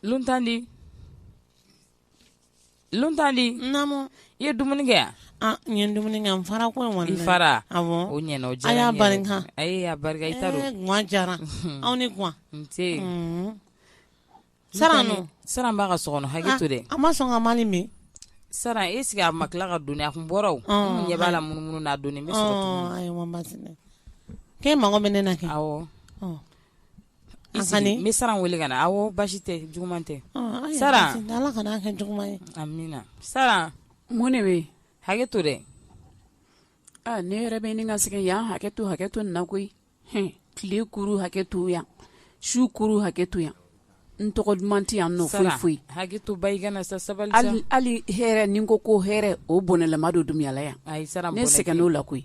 Luntandi i ye dumuni kɛ yan an ye dumuni kɛ fara ko kɔni fara a o ɲ diya y'a barika a y'a barika i diyara anw ni sanu sanu b'a ka so kɔnɔ hakɛ to dɛ an ma sɔn ka ma min sara e sigi a ma tila ka don a kun bɔra ɲɛ b'a la munumunu n'a don bɛ e mago bɛ ne na kɛ sara weele ka na aw basi tɛ juguman tɛ sara sara mun ne bɛ hakɛ to dɛ ne yɛrɛ bɛ ɲini ka sɛgɛn yan hakɛ to hakɛ to na koyi tile kuru hakɛ to yan su kuru hakɛ to yan n tɔgɔ duman tɛ yan nɔ foyi foyi hakɛ to ba i kana sa sabali hali hɛrɛ ni ko ko hɛrɛ o bɔnɛlama don dunya la yan ne sɛgɛnna o la koyi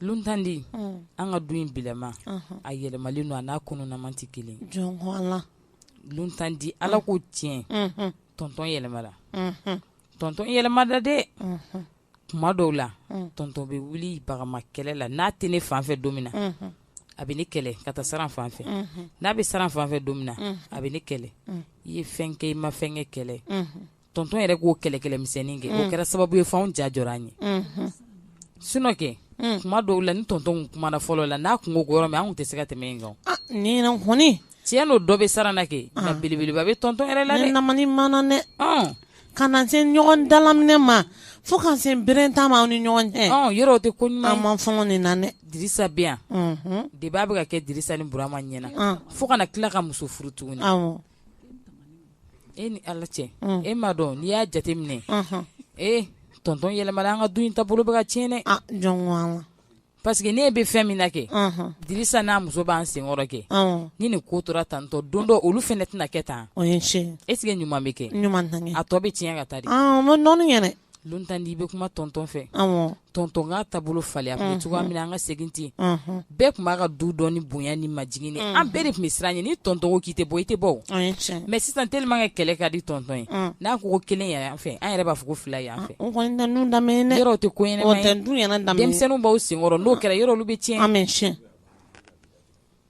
Luntandi an ka du in bilama a yɛlɛmalen don a n'a kununnama tɛ kelen luntandi ala ko tiɲɛ tɔntɔn yɛlɛmana tɔntɔn yɛlɛmana dɛ kuma dɔw la tɔntɔn bɛ wuli bagama kɛlɛ la n'a tɛ ne fanfɛ don min na a bɛ ne kɛlɛ ka taa sara fanfɛ n'a bɛ sara fanfɛ don min na a bɛ ne kɛlɛ i ye fɛn kɛ i ma fɛn kɛ kɛlɛ tɔntɔn yɛrɛ k'o kɛlɛkɛmisɛnnin kɛ o mm. kɛra sababu ye fɛnw ja jɔ an ye mm-hmm. sunɔ kɛ mm. kuma dɔw la ni tɔntɔn kumana fɔlɔ la n'a tun ko yɔrɔ min an tun tɛ se ka tɛmɛ yen kan ah, ni hɔni tiɲɛ nɔ dɔ bɛ sara na kɛ ah. nka belebeleba bɛ tɔntɔn yɛrɛ la dɛ namani mana dɛ ah. ka na se ɲɔgɔn dalaminɛ ma fo ka se bere ta ma aw ni ɲɔgɔn cɛ yɔrɔ o tɛ ko ɲuman an ma fɔlɔ nin na dɛ dirisa bɛ yan mm-hmm. de b'a bɛ ka kɛ dirisa ni burama ɲɛna fo ka na tila ka muso furu tuguni e ni ala cɛ e ma dɔn n'i y'a jate minɛ ee tɔntɔn yɛlɛmana an ka du in taabolo bɛ ka tiɲɛn dɛ parce que ne bɛ fɛn min na kɛ dirisa n'a muso b'an senkɔrɔ kɛ ni nin ko tora tan don dɔ olu fana tɛna kɛ tan e sigi ɲuman bɛ kɛ a tɔ bɛ tiɲɛ ka taa dɛ luntandi i bɛ kuma tɔntɔn fɛ tɔntɔn ka taabolo falen a tun bɛ cogoya min na an ka segin ten bɛɛ tun b'a ka du dɔn ni bonya ni majigin ye an bɛɛ de tun bɛ siran ɲɛ ni tɔntɔn k'i tɛ bɔ i tɛ bɔ mɛ sisan telima kɛ kɛlɛ ka di tɔntɔn ye n'a ko ko kelen yɛrɛ yan fɛ an yɛrɛ b'a fɔ ko fila yan fɛ yɔrɔ tɛ ko denmisɛnninw b'aw senkɔrɔ n'o kɛra dɔrɔn olu bɛ tiɲɛ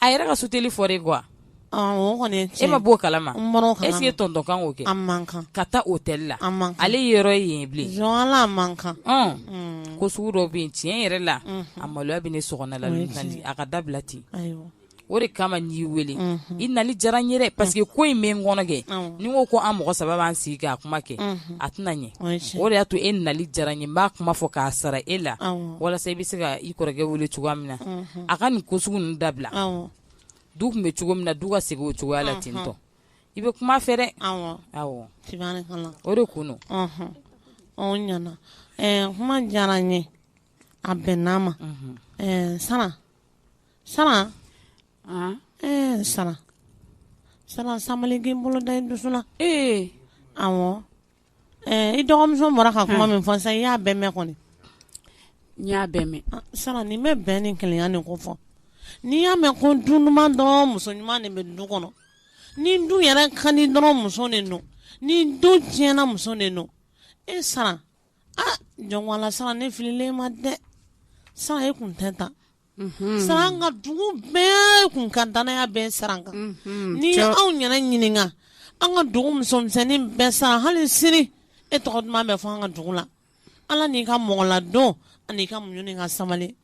a yɛrɛ ka si otɛli fɔ de kuwa e ma b'o kala ese ye tɔntɔn kan'o kɛ man kan ka taa otɛli la ale yɔrɔ ye yen bilen man kan ko sugu dɔ bɛ yen tiɲɛ yɛrɛ la a maloya bɛ ne so la a ka dabila ten o de kama n y'i weele i nali diyara n yɛrɛ parce que ko in bɛ n kɔnɔ kɛ ni ko ko an mɔgɔ saba b'an sigi k'a kuma kɛ a tɛna ɲɛ o de y'a to e nali diyara n ye n b'a kuma fɔ k'a sara e la walasa i bɛ se ka i kɔrɔkɛ wele cogoya min na a ka nin ko sugu ninnu dabila awɔ du tun bɛ cogo min na du ka segin o cogoya la ten tɔ i bɛ kuma a fɛ dɛ awɔ awɔ tabarikala o de kun don ɔnhɔn ɔ n ɲana ɛɛ kuma diyara n ye a bɛnna n ma ɛɛ sara sara Ah, ɛɛ sara sara sabali kɛ i bolo da i dusu la ee awɔ Ɛɛ i dɔgɔmuso bɔra ka kuma min fɔ sisan i y'a bɛɛ mɛn kɔni n y'a bɛɛ mɛn ah, sara n'i bɛ bɛn ni keleya nin ko fɔ n'i y'a mɛn ko du ɲuman dɔrɔn muso ɲuman de bɛ du kɔnɔ ni du yɛrɛ ka di dɔrɔn muso de don ni du tiɲɛna muso de don e sara a ah, jɔn ko ala sara ne fililen i ma dɛ sara e kun tɛ tan sara an ka dugu bɛɛ tun ka dannaya bɛ sara kan n'i ye anw ɲɛna ɲininka an ka dugu musomisɛnnin bɛɛ sara hali sini e tɔgɔ duman bɛ fɔ an ka dugu la ala n'i ka mɔgɔladon ani ka muɲu ka sabali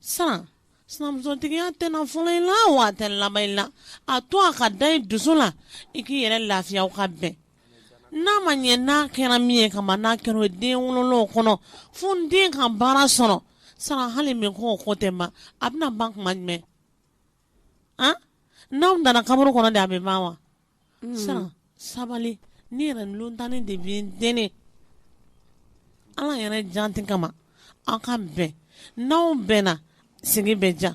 sara sinamusotigiya tɛ fɔlɔ i la wa a tɛ laban i la a to a ka da dusu la i k'i yɛrɛ lafiya ka bɛn N'a ma ɲɛ n'a kɛra min ye ka n'a kɛra den wolo kɔnɔ fo den ka baara sɔrɔ sara hali min ko kɔ tɛ ma a bɛna ban kuma jumɛn n'an nana kaburu kɔnɔ de a bɛ ban wa sara sabali ne yɛrɛ tan ne de b'i deli ala yɛrɛ jaati kama aw ka bɛn n'aw bɛnna sigi bɛ diya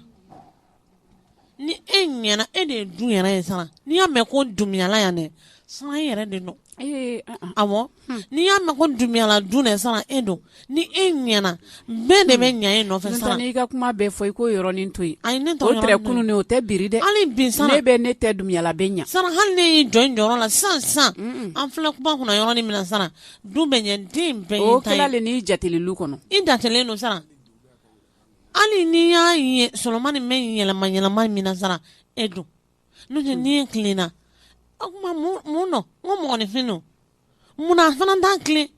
ni e ɲɛna e de ye du yɛrɛ ye sara n'i y'a mɛn ko du ɲana yan dɛ sara e yɛrɛ de don a hmm. n'i y'a mɛn ko du ɲana dun dɛ sara e don ni e ɲɛna bɛɛ de bɛ hmm. ɲɛ e nɔfɛ sara n'i ka kuma bɛɛ fɔ i ko yɔrɔnin to yen ayi ne tɛ kunun o tɛ biri dɛ hali bi sara ne bɛ ne tɛ dunyala bɛ ɲɛ sara hali n'e y'i jɔ i jɔyɔrɔ la sara sara an filɛ kuma kɔnɔ yɔrɔnin min sara du bɛ ɲɛ den bɛɛ ta ye n'i jateli kɔnɔ i datɛlen don sara hali n'i y'a ye solomani bɛ yɛlɛma yɛlɛma min sara e don n'o tɛ ni e tilenna o tuma mun don n ko mɔgɔninfin don munna a fana tɛna tilen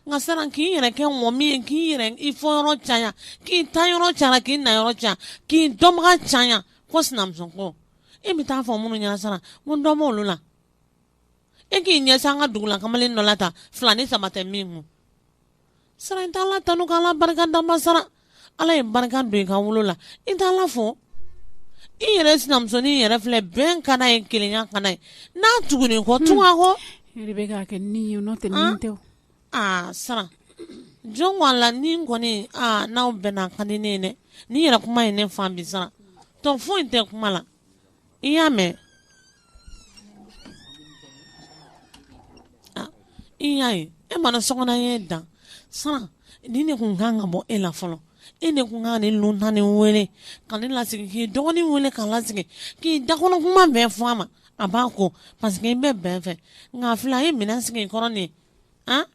n ka siran k'i yɛrɛ kɛ mɔgɔ min ye k'i yɛrɛ i fɔ yɔrɔ caya k'i taa yɔrɔ caya k'i na yɔrɔ caya k'i dɔnbaga caya ko sinamuso ko e bɛ taa fɔ minnu ɲɛna siran ko n dɔnbɔ olu la e k'i ɲɛsin an ka dugu la kamalen dɔ la ta fila ni saba tɛ min kun Sara i t' ala tanu k' ala barika da wa sara ala ye barika don i ka wolo la i t' ala fɔ i yɛrɛ sinamusonin yɛrɛ filɛ bɛn ka ye keleya ka ye n'a tugulen i kɔ tugu a kɔ tɛ aa sara jɔn ko ala ne kɔni n'aw bɛnna a ka di ne ye dɛ n'i yɛrɛ kuma ye ne fa bi sara tɔ foyi tɛ kuma la i y'a mɛn ah, i y'a ye e mana sɔgɔna ye dan saran ni ne kun kan ka bɔ e la fɔlɔ e ne kun ka ne luntani wele ka ne lasigi k'i dɔgɔnin wele k'a lasigi k'i dakɔnɔ kuma bɛɛ fɔ a ma a b'a ko paseke i bɛ bɛn fɛ nka fila ye minɛn sigi kɔrɔ nin ye an ah,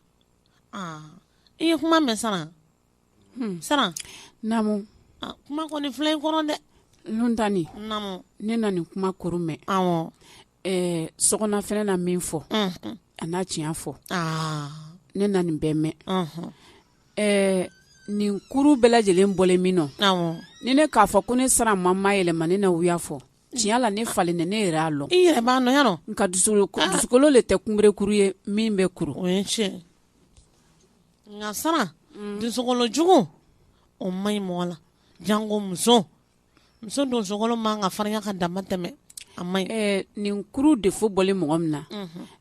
ah, i ye kuma mɛn saran hmm. saran namu ah, kuma kɔni filɛ in kɔrɔ dɛ luntani namu ne na nin kuma kuru mɛn awɔ ɛɛ sɔgɔna fɛnɛ na min fɔ mm-hmm. a n'a tiɲɛ fɔ ah. ne na nin bɛɛ mɛn mm-hmm. ɛɛ nin kuru bɛɛ lajɛlen bɔlen min nɔ awɔ ni ne k'a fɔ ko ne saran ma mayɛlɛma ne na wuya fɔ tiɲɛ la ne falen ne yɛrɛ y'a lɔn i yɛrɛ b'a nɔ yan nɔ nka dusukolo ah. dusukolo le tɛ kunberekuru ye min bɛ kuru o ye tiɲɛ nka saran dusukolo jugu o man ɲi mɔgɔ la jango muso muso dusukolo man ka farinya ka damatɛmɛ a man ɲi ɛɛ nin kuru defo bɔlen mɔgɔ min na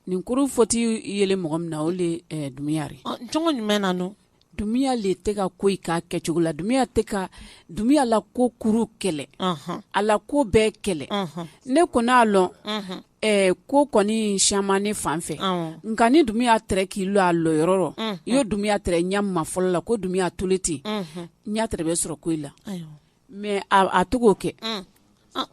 nin kuru fɔti yelen mɔgɔ min na o de ɛɛ dumuya de ye Ɔ, cogo jumɛn na no dumuya le tɛ ka ko k'a kɛcogo la dumuya tɛ ka dumuya la ko kuru kɛlɛ ɔhɔn a la ko bɛɛ kɛlɛ ɔhɔn ne kɔni a lɔn ɛɛ ko kɔni siyaman ne fan fɛ nka ni dumuya tɛrɛ k'i lɔ a lɔyɔrɔ rɔ i ye dumuya tɛrɛ ɲɛ ma fɔlɔ la ko dumuya tolen ten y'a tɛrɛ bɛ sɔrɔ ko i la mɛ a to'o kɛ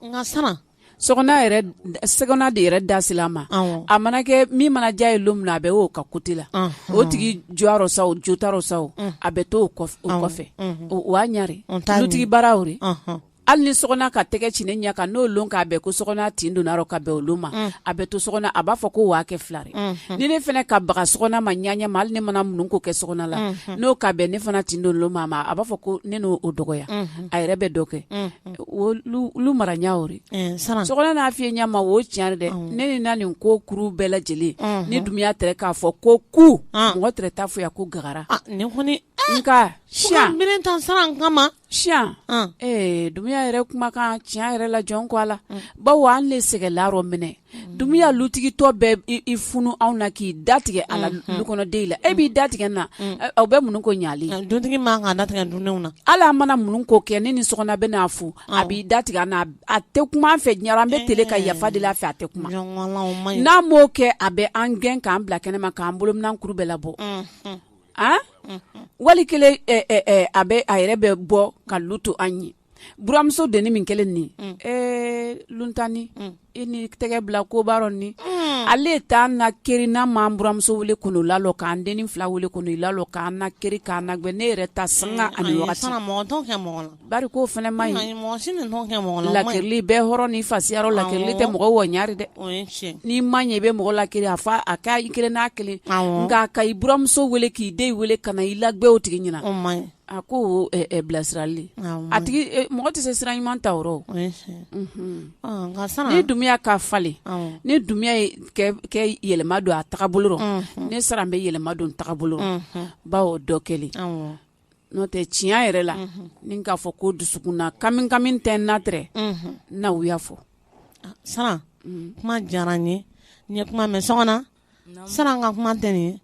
nka san so sɔgɔna de yɛrɛ dasi a ma a mana kɛ min mana diya ye don min a bɛ'o ka kote la o tigi jɔyɔrɔ sa o jotaraw sa a bɛ to o kɔfɛ o' ɲare dutigi baaraw hali ni sɔgɔna ka tɛgɛ ci ɲɛ kan n'o don k'a bɛn ko so tin donna ka bɛn olu ma a bɛ to so a b'a fɔ ko waa kɛ filare ni ne fana ka bagan so ma ɲɛ ma hali ne mana minnu ko kɛ so la n'o ka bɛn ne fana tin don ma ma a b'a fɔ ko ne n'o o dɔgɔya a yɛrɛ bɛ dɔ kɛ olu mara ɲɛ o so n'a fi ɲɛ ma o tiɲɛ dɛ ne ni na nin ko kuru bɛɛ lajɛlen ni dumuya tɛ k'a fɔ ko ku mɔgɔ tɛ taa fo ko gagara nka si tan saran kama si ee dumuya yɛrɛ kumakan t'a yɛrɛ la jɔn ko ala bawo an de sɛgɛn la rɔminɛ dumuya lutigitɔ bɛ i funu anw na k'i da tigɛ a la dukɔnɔden la e b'i da tigɛ na aw bɛ mun ko ɲali dutigi man ka da tigɛ dudenw na ala mana mun ko kɛ ne ni sɔgɔna bɛ n'a fɔ a b'i da tigɛ n a tɛ kuma fɛ ɲɛna an bɛ t ka yafa deli a fɛ a tɛ kuma n'an b'o kɛ a bɛ an gɛn k'an bila kɛnɛ ma k'an bolominan kuru bɛɛ labɔ a wali kelen a bɛ a yɛrɛ bɛ bɔ ka lu to an ye buramuso denin min kɛlen nin ɛɛ luntani i ni tɛgɛ bila ko ba rɔ ni ale t'an nakiri n'a ma buramuso wele k'olu lalɔ k'an denin fila wele k'olu lalɔ k'an nakiri k'an nagbɛ ne yɛrɛ ta san ani Bari ko fana ma ɲi, ayi mɔgɔ si ninnu kɛ mɔgɔ la, o ma ɲi, lakirili bɛ hɔrɔn ni fasiya rɔ lakirili tɛ mɔgɔ ɲɛ dɛ, o ye tiɲɛ ye, n'i ma ɲɛ i bɛ mɔgɔ lakiri a fa a ka i kelen n'a kelen, awɔ, nka ka i buramuso wele k'i den wele ka na i lagbɛ o tigi ɲɛna, o ma ɲi, a ko o ɛ bilasirali, awɔ, o ma ɲi, a tigi e mɔgɔ tɛ se sira ɲuman ta o rɔ o, o ye tiɲɛ ye, unhun, ɔ nka san, ni Dunbiya ka falen, awɔ, ni Dunbiya ye kɛ yɛlɛma don a tagabolo rɔ, unhun, ne Saran bɛ yɛlɛma don n tagabolo rɔ, unhun, bawo dɔ kɛlen, awɔ n'o tɛ tiɲɛ yɛrɛ la ni k'a fɔ ko dusukun na kami kami tɛ n na tɛrɛ na u y'a fɔ saran kuma diyara n ye n ye kuma mɛn sogona saran ka kuma tɛ nin ye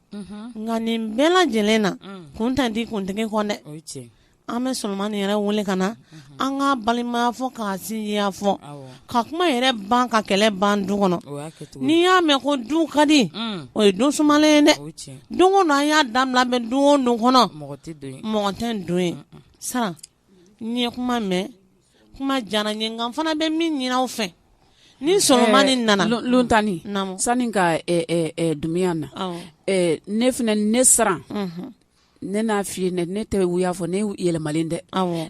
nka nin bɛɛ lajɛlen na kun tɛ di kuntigi kɔ dɛ an bɛ solomani yɛrɛ wele ka na an ka balimaya fɔ ka sinjiya fɔ ka kuma yɛrɛ ban ka kɛlɛ ban du kɔnɔ n'i y'a mɛn ko du ka di o ye don sumalen ye dɛ don an y'a da bɛ don don kɔnɔ mɔgɔ tɛ don ye saran n ye kuma mɛn kuma diyara n ye nka n fana bɛ min ɲini aw fɛ ni solomani nana lontanani sani ka dunbiya na ne fana ne saran ne n'a f'i ye ne ne tɛ y'a fɔ ne yɛlɛmalen dɛ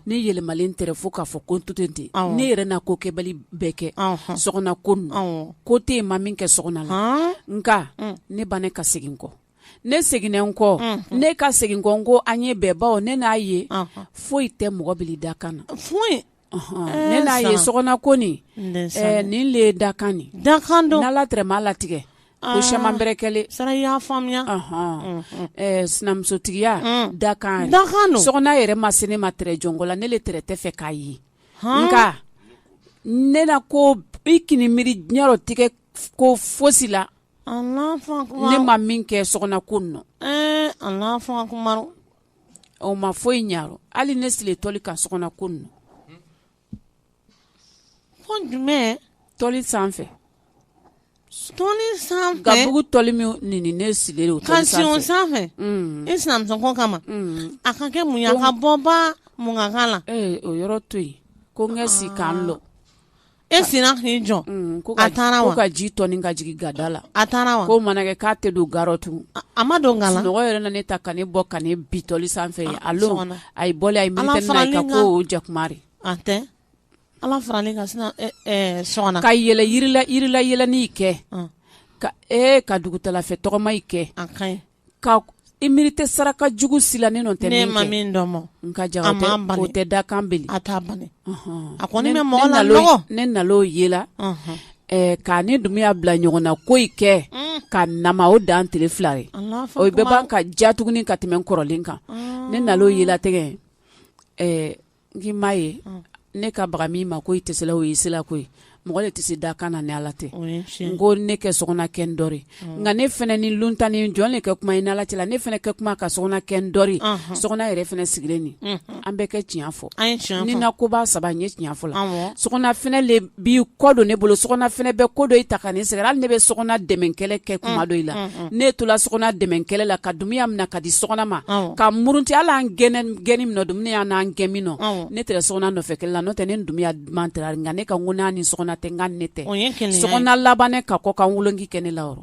ne yɛlɛmalen tɛrɛ fo k'a fɔ ko to ten ne yɛrɛ n'a kokɛbali bɛɛ kɛ sogona kun ko tɛ yen n ma min kɛ sogona la nka mm. ne bannen ka segin kɔ ne seginna n kɔ mm-hmm. ne ka segin kɔ ko an ye bɛn bawo ne n'a ye foyi tɛ mɔgɔ bali dakan na ne n'a ye sogona ko nin nin le dakan nin dakan don ala tɛrɛ m'a latigɛ ko solomani bɛ kɛlen saran y'a faamuya sinamusotigiya dakan dakan sogona yɛrɛ ma se ne ma tɛrɛ jɔnko la ne de tɛrɛ t'a fɛ k'a ye nka ne na ko i k'i miiri diɲɛyɔrɔ tigɛ ko fosi la ne ma min kɛ sogona ko nɔ ɔ ma foyi in ɲa hali ne siri toli ka sogona ko ninnu ko jumɛn toli sanfɛ toli sanfɛ ka bugu toli min nini ne siri o ka siɔn sanfɛ i sinamusoko kama a ka kɛ mun ye a ka bɔba munkan la o yɔrɔ to yen ko n ka si k'an lɔ e sina k'i jɔ a taara wa ka ji tɔ ka jigin gada la a taara wa ko mana kɛ k'a tɛ don gaɔtu a ma dɔn nkalon mɔgɔ yɛrɛ ne ta ka ne bɔ ka ne bitɔli sanfɛ a a ye bɔ a ye mi ka ko jakumari a tɛ ala faralen ka sina sɔn ka yɛlɛ yirilayɛlɛnni kɛ ka e ka dugutalafɛ tɔgɔma kɛ ka i miiri tɛ saraka jugu si la ne tɛ ne ma min dɔn ma nka ja tɛ dakan a taa ban a ko ne mɔgɔ la ne na o ye la k'a ni dunbiya bila ɲɔgɔn na ko i kɛ mm. ka na o dan tile fila ye o bɛ ban ka diya tuguni ka tɛmɛ kɔrɔlen kan ne na o ye la tɛgɛ n'i m'a ye ne ka baga min ma ko i tɛ o ye sira ko ye mɔgɔ le tɛ se dakan na ni ala tɛ n ko ne kɛ Sɔgɔna kɛ n dɔ nka ne fana ni lontan ni jɔn le kɛ kuma i ni ala tɛla ne fana kɛ kuma ka Sɔgɔna kɛ n dɔ Sɔgɔna yɛrɛ fana sigilen nin an bɛɛ kɛ tiɲɛ fɔ ni na ko' saba n ye tiɲɛfɔ la so bi kɔ don ne bolo Sɔgɔna fana bɛɛ ko dɔ i ta ka ne sɛgɛn hali ne bɛ Sɔgɔna dɛmɛkɛlɛ kɛ kuma mm, dɔ i la mm, mm. ne tola Sɔgɔna dɛmɛkɛlɛ la ka Dumbuya mina ka di Sɔgɔna ma ka murunti a la an gɛnɛ gɛni min Dumbuya y'an n'an gɛn min nɔ ne tɛ Sɔgɔna nɔfɛ kɛlɛ la n'o tɛ ne Dumbuya duman tɛ nka ne ka ŋ ni Sɔgɔna tɛ n ka ne tɛ Sɔgɔna laban ne ka kɔkan woloki kɛ ne la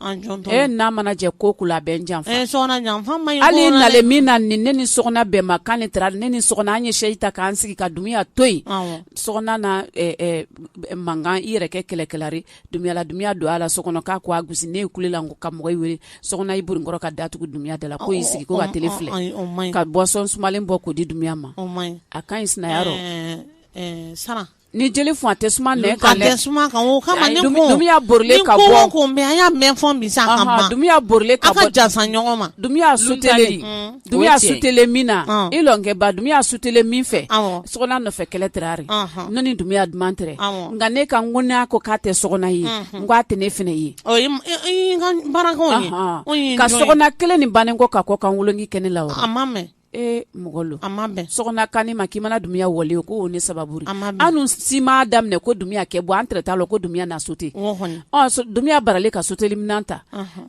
n'a mana jɛ ko kula bɛ janfa hali na min na ni ne ni Sɔgɔna bɛn ma kan ne taara ne ni Sɔgɔna an ye sɛsi ta k'an sigi ka Dumbuya to yen Sɔgɔna na mankan i yɛrɛ kɛ kɛlɛkɛla ri Dumbuya la Dumbuya don a la so kɔnɔ k'a ko a gosi ne kulela ka mɔgɔ wele Sɔgɔna i bori n kɔ ka da tugu Dumbuya da la ko y'i sigi ko ka t filɛ ka bɔsɔn sumalen bɔ k'o di Dumbuya ma a ka ɲi sina Ni jeli funu a tɛ suma nɛn kan dɛ, a tɛ suma kan o kama ne ko, ni ko o ko mɛn an y'a mɛn fɔ bi sa ka ban, Dumbuya bɔrɔlen ka bɔ, aw ka janfa ɲɔgɔn ma, Dumbuya suteli, Dumbuya suteli min na i lɔnkɛba Dumbuya suteli min fɛ, awɔ, Sɔgɔna nɔfɛ kɛlɛ tɛrɛ ri, ɔnhɔn, ne ni Dumbuya duman tɛrɛ, awɔ, nka ne ka n ko n'a ko k'a tɛ Sɔgɔna ye, unhun, n k'a tɛ ne fana ye, ɔ i ka baarakanw ye, ɔnhɔn, ka Sɔgɔna kelen nin bannen kɔ ka kɔkan woloki kɛ ne la wa, a ma mɛn e mɔgɔ lo a ma bɛn Sɔgɔna kan i ma k'i mana Dumbuya wele ko o ne sababu ri annu si ma daminɛ ko Dumbuya kɛ bɔ an tɛrɛ taa la ko Dumbuya na sote Dumbuya bara le ka soteli minan ta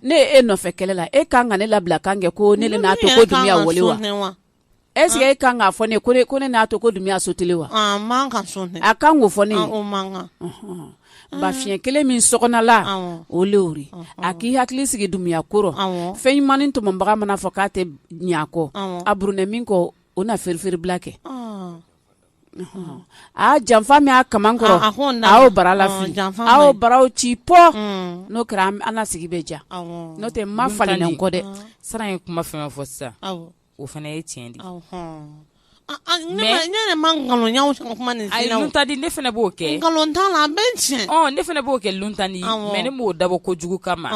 ne e nɔfɛ kɛlɛ la e ka kan ka ne labila kan kɛ ko ne n'a to ko Dumbuya wele wa ese e kan k'a fɔ ne ko ne n'a to ko Dumbuya soteli wa a kan ko fɔ ne Mm. ba fiɲɛ kelen min Sɔgɔna la o le o ri a k'i hakili sigi Dumbuya kɔrɔ fɛn ɲumanin tɔmɔbaga mana fɔ k'a tɛ ɲakɔ a burunɛ min kɔ o na feerefeerela kɛ a janfa min' ka kɔrɔ aw bara la aw baraw ci pɔ mm. n'o kɛra an sigi bɛ ja n'o tɛ ma fa kɔ dɛ siran ye kuma fɛn fɔ sisan o fana ye tiɲɛ di ta di ne fana b'o kɛ nkalon ne fana b'o kɛ tan di mɛ ne m'o dabɔ kojugu kama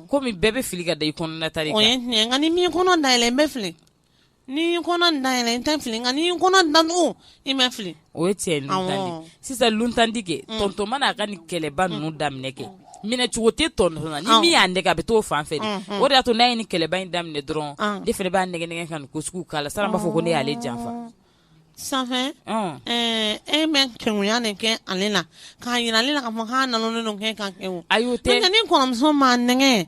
kɔmi bɛɛ bɛ fili ka da i kɔnɔna ta ni min kɔnɔ da yɛlɛ n bɛ fili ni kɔnɔ da yɛlɛ n tɛ fili nka ni kɔnɔ dan i ma fili o ye cɛ sisan tandi tɔntɔnonma n'a ka ni kɛlɛba ninnu daminɛ kɛ minɛcogo tɛ tɔn min y'a nɛgɛ a bɛ to fan fɛ o de' to n'a ye ni kɛlɛba in daminɛ dɔrɔn de fana b'a nɛgɛ ka ko sugu k'a la san b'a fɔ ko ne y'ale janfa san e bɛ kɛya de kɛ ale la k'a jira ale la ka fɔ' nana kɛ ka kɛ a y'o tɛ ni kɔrɔmuso ma nɛgɛ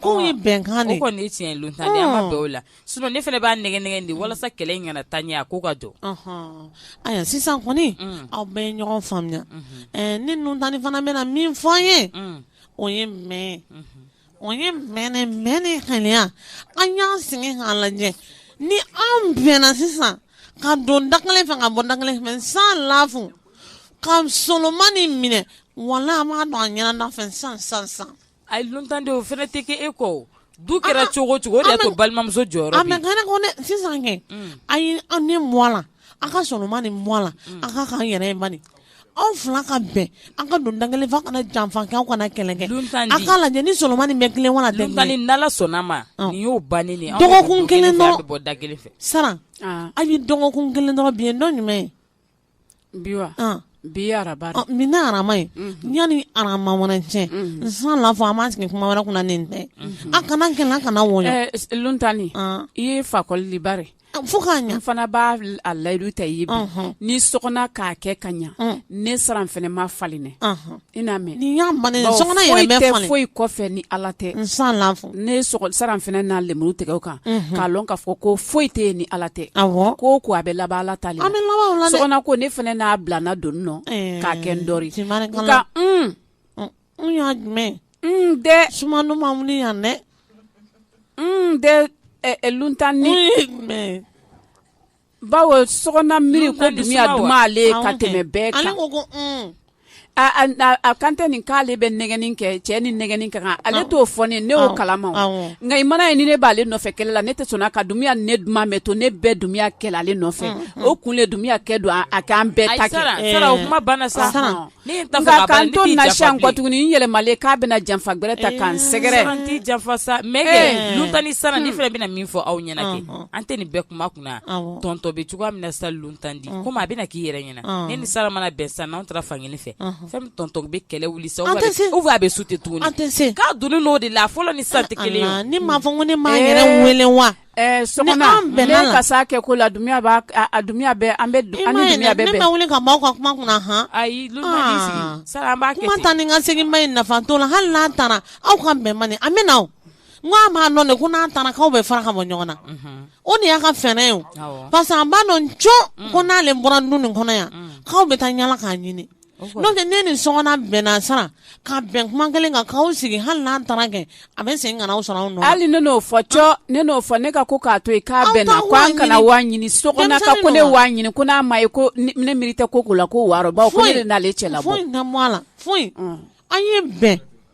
ko ye bɛnkan de kɔni tiɲɛ don tan an ma bɛɛ la s ne fana b'a nɛgɛn de walasa kɛlɛ in kana taa ɲɛ a ko ka jɔ ayiwa sisan kɔni aw bɛ ɲɔgɔn faamuya ni luntani fana bɛna min fɔ an ye o ye mɛ o ye mɛnɛ mɛ ni haya an y'an sɛgɛn k'a lajɛ ni an bɛnna sisan ka don da kelen fɛ ka bɔ da kelen fɛ san lafu ka solomani minɛ wala an b'a dɔn an ɲɛna fɛ san san san A yelentanden o fana tɛ kɛ e kɔ du kɛra cogo cogo de ko balimamuso jɔyɔrɔ a mɛ sisan kɛ a ye an ni mɔ la an ka solomani mɔ la an ka kaan yɛrɛ man anw fila ka bɛn an ka don da kelen fɛ kana janfa anw kana kɛlɛ kɛ an ka lajɛ ni solomani bɛ kelen dala solomani y'o ban dɔgɔkun kelen bɔ da kelen fɛ sara an ye dɔgɔkun kelen dɔrɔn bi ye dɔn jumɛn ye bi wa an bi araba de. min na araba ye yanni araba wɛrɛ cɛ n san la fɔ an b'an sigi kuma wɛrɛ kunna nin tɛ an kana kɛlɛ an kana wɔyɔ Eh, s- luntani Ah. i ye fakɔli de bare fo k'a ɲɛ n fana b'a l- a layidu ta i ye bi Unhun. ni sɔgɔna k'a kɛ ka ɲa ne saran fana ma falen Unhun. I n'a mɛn ni y'a man foyi kɔfɛ ni ala tɛ n san ne saran fana n'a lemuru tigɛ o kan k'a dɔn k'a fɔ ko foyi tɛ yen ni ala tɛ ko ko a bɛ laban ala ta ko ne fana n'a bila n don nɔ k'a kɛ n dɔ y'a jumɛn dɛ suman yan dɛ dɛ tani bawo sɔgɔna miiri ko dunya duman ale ka tɛmɛ bɛɛ kan ko a kan tɛ nin k'ale bɛ nɛgɛni kɛ cɛ ni nɛgɛni ka kan ale t'o fɔ ne ne y'o kalama nka i man'a ye ni ne b'ale nɔfɛ kɛlɛ la ne tɛ sɔnna ka dunya ne duman bɛɛ to ne bɛɛ dunya kɛla ale nɔfɛ o kun le dunya kɛ don a k'an bɛɛ ta sara o kuma banna sa kɔ tuguni yɛlɛma k'a bɛna janfa wɛrɛ ta k'an sɛgɛrɛ janfa sa tani sanni fɛn bɛna min fɔ aw ɲɛna an tɛ nin bɛɛ kuma kunna tɔntɔn bɛ cogoya min sa tandi ko a bɛna k'i yɛrɛ ɲɛna ne ni sara mana bɛn san n'an taara fan fɛ fɛn tɔntɔn bɛ kɛlɛ wuli sa a bɛ su tɛ tuguni k'a don n'o de la fɔlɔ ni san tɛ kelen ni maa fɔ ko ne m'a yɛrɛ weele wa Eh, so bɛ kɛ ko la dunya bɛ an bɛ wuli ka maaw ka kuma kunna h ayi tani ka segin ma in nafa to la hali n'an taara aw ka bɛn man an bɛ na n a b'a dɔn de ko n'an taara k'aw bɛ fara ka bɔ ɲɔgɔn na mhm. o de y'a ka fɛɛrɛ ye parce que an b'a dɔn cɔ ko n'ale bɔra du nin kɔnɔ yan k'aw bɛ taa yaala k'a ɲini n'o tɛ ne ni sɔgɔna bɛnna sara ka bɛn kuma kelen kan k'aw sigi hali n'an taara kɛ a bɛ segin ka n'aw sɔrɔ anw hali ne n'o fɔ cɔ ne n'o fɔ ne ka ko k'a to yen k'a bɛnna ko an kana w'a ɲini sɔgɔna ka ko ne w'a ɲini ko n'a ma ye ko ne miiri tɛ ko ko la ko wɔɔrɔ baw ko ne de n'ale cɛla bɔ foyi na mɔ a la foyi an ye bɛn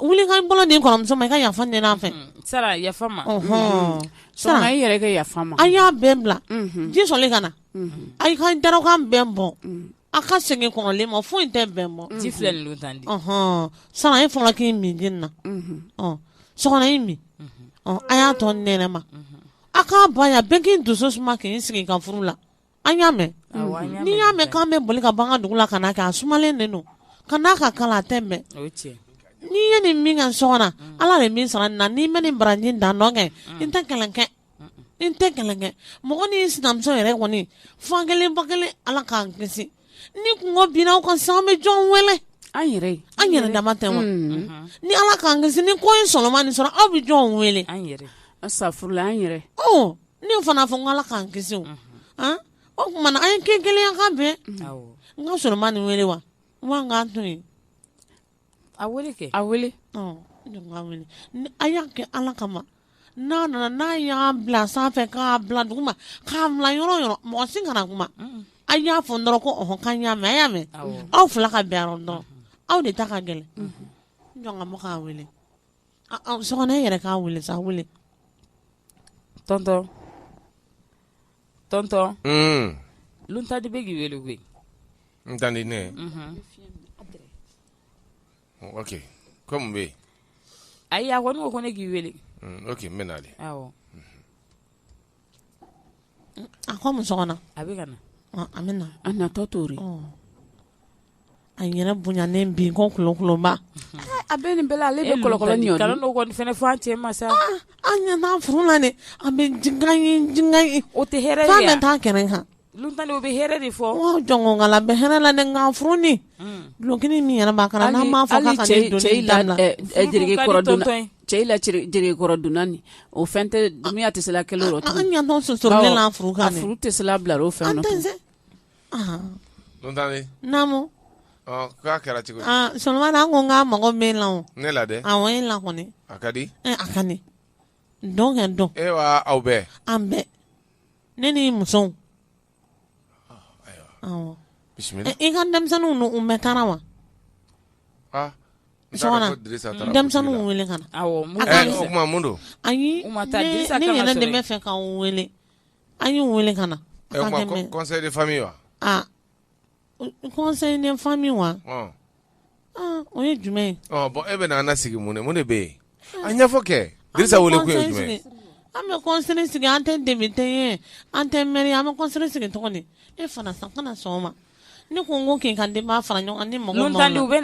wuli k'i bolo di kɔrɔmuso ma i ka yafa ɲini a fɛ sara yafa ma sara i yɛrɛ yafa ma a y'a bɛn bila ji sumalen ka na a ka dakan bɛn bɔ a ka segin kɔrɔlen ma foyi tɛ bɛn bɔ ji filɛ tan di sara i fɔlɔ k'i min di na sokona i min a y'a to ɲɔgɔn ma a k'a ba bɛn k'i dusu suma k'i sigi i ka furu la an y'a mɛn n'i y'a mɛn k'an bɛ boli ka ban dugu la ka na kɛ a sumalen de don ka n'a ka kalan tɛ mɛn n'i ye nin min ka so na mm. ala de min sara na n'i ma nin baraji dan dɔn kɛ mm. n tɛ kalan kɛ n tɛ kalan kɛ mɔgɔ ni sinamuso yɛrɛ kɔni fa kelen ba kelen ala k'an kisi ni kunko binna ka san bɛ jɔn wele an yɛrɛ an yɛrɛ dama tɛ wa mm. mm-hmm. ni ala k'an kisi ni ko ye solomani sɔrɔ aw bɛ jɔn wele an yɛrɛ an safurula an yɛrɛ ne fana fɔ nka ala k'an kisi o kuma ma an ye kɛ gɛlɛyakan bɛɛ n ka solomani wele wa an k'a to yen a kɛ a wele a y'a kɛ ala kama n'a nana n'a y'a bila sanfɛ k'a bila duguma k'a bila yɔrɔ o yɔrɔ mɔgɔ si kana kuma a y'a fɔ n dɔrɔn ko ɔhɔn k'an y'a mɛn a y'a mɛn aw fila ka bɛn yɔrɔ dɔn aw de ta ka gɛlɛn jɔn ka mɔgɔ k'a wele Sokona e yɛrɛ ka wuli sa wuli tɔntɔn tɔntɔn n tanti bɛ k'i weele koyi n tanti ne kɔmi bɛ yen ayi a ko ne ko ne k'i weele mɛn de A ko a bɛ ka na a bɛ na a natɔ don a yɛrɛ bonyanen b'i ko kolonba a bɛ nin ale bɛ kɔlɔn kɔnifan cɛ ma sa an ɲɛ furu na an bɛ o tɛ hɛrɛ tan kɛnɛ kan Dɔw bɛ hɛrɛ de fɔ jɔnkala bɛ hɛrɛ la ninnuf dulonk min yɛrɛ ma cɛkɔrɔ dunani o fɛn tɛ miya tɛ la kelen yɔrɔ ɲɛ furu furu tɛ bila o fɛn naamu k'a kɛra cogo so ko n ka mago bɛ la ne la dɛ a ye lakɔ a ka di a ka dɔnkɛ dɔn aw bɛɛ an bɛɛ ne ni musow i ka denmisɛnninw u bɛɛ taara wa denmisɛnninw wele ka na ayi ne yɛrɛ de b'a fɛ k'u wele a y'u wele ka na wa kɔnsɛnden fa min wa o ye jumɛn bɔn e bɛ an sigi mun mun de bɛ yen a ɲɛfɔ kɛ wele ko jumɛn an bɛ kɔnsɛn sigi an tɛ depite ye an tɛ mɛri an bɛ kɔnsɛn sigi cogo di e fana san kana sɔgɔma ne ko n ko kin ka den' fara ɲɔgɔn ni mɔgɔ u bɛ